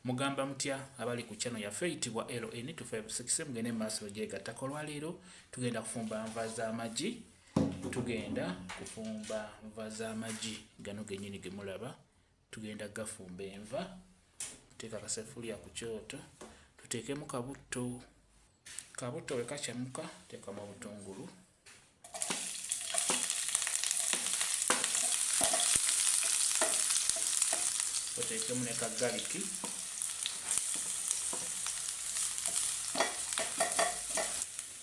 mugamba mutya abali ku channel yaffe eyitibwa ln 256 mugende maaso gyegattako olwaleero tugenda kufumba nva z'amagi tugenda kufumba nva z'amagi gano genyini gemulaba tugenda gafumba enva tuteeka kasefuliya ku kyoto tuteekemu kabutto kabutto wekakyamuka teekamu obutungulu oteekemu ne kaggaliki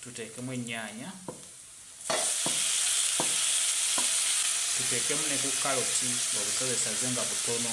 tuteekemu ennyaanya tuteekemu ne ku kaloti obusozesaze nga butono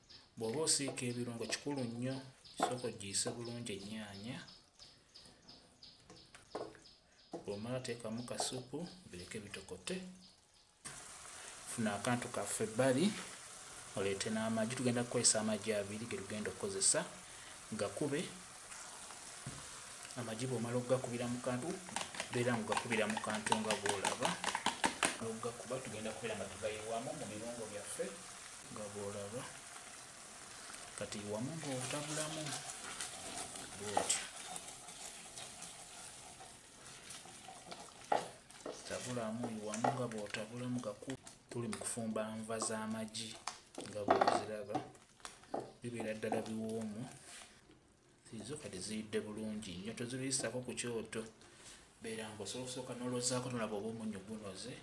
bw'oba osiika ebirungo kikulu nnyo sooka ogiyise bulungi ennyaanya bw'omala teekamu kasupu bireke bitokote funa akantu kaffe ebbali oleete n'amagi tugenda kukozesa amagi abiri ge tugenda okukozesa gakube amagi bw'omala okugakubira mu kantu beera nga ogakubira mu kantu nga bw'olaba okugakuba tugenda kubeera nga tugayiwamu mu birungo byaffe nga bwolaba kati wamu ng'otabulamu bwotyo tabulamu wamu nga bw'otabulamu gaku tuli mu kufumba nva z'amagi nga bweziraba bibeera ddala biwoomu ziizo kati ziyidde bulungi nnyo toziruyisako ku kyoto beera ngaosobola okusooka nolozaako nolaba oba omunyu gunoze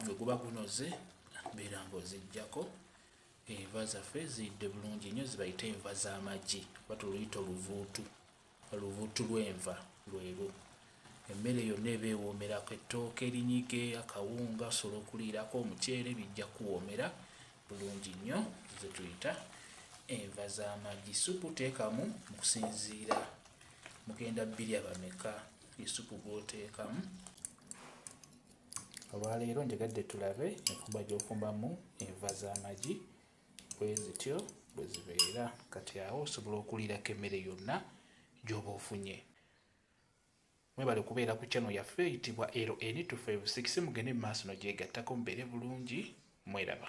nga guba gunoze mbeera nga ozijjako enva zaffe ziyidde bulungi nnyo zibayita enva z'amagi oba tuluyita oluvuutu oluvuutu lw'enva lwelu emmere yonna eba ewoomerako ettooka erinyige akawunga sobola okuliirako omuceere bijja kuwoomera bulungi nnyo zetuyita enva z'amagi supu teekamu mukusinziira mugenda bbiri abameka isupu gwoteekamu olwaleero njagadde tulabe enfumba gyofumbamu enva z'amagi bwe zityo bwe zibeera kati awo osobola okuliirako emmere yonna gy'oba ofunye mwebale kubeera ku channel yaffe eyitibwa ln256 mugende mu maaso no gyegattako mubeere bulungi mweraba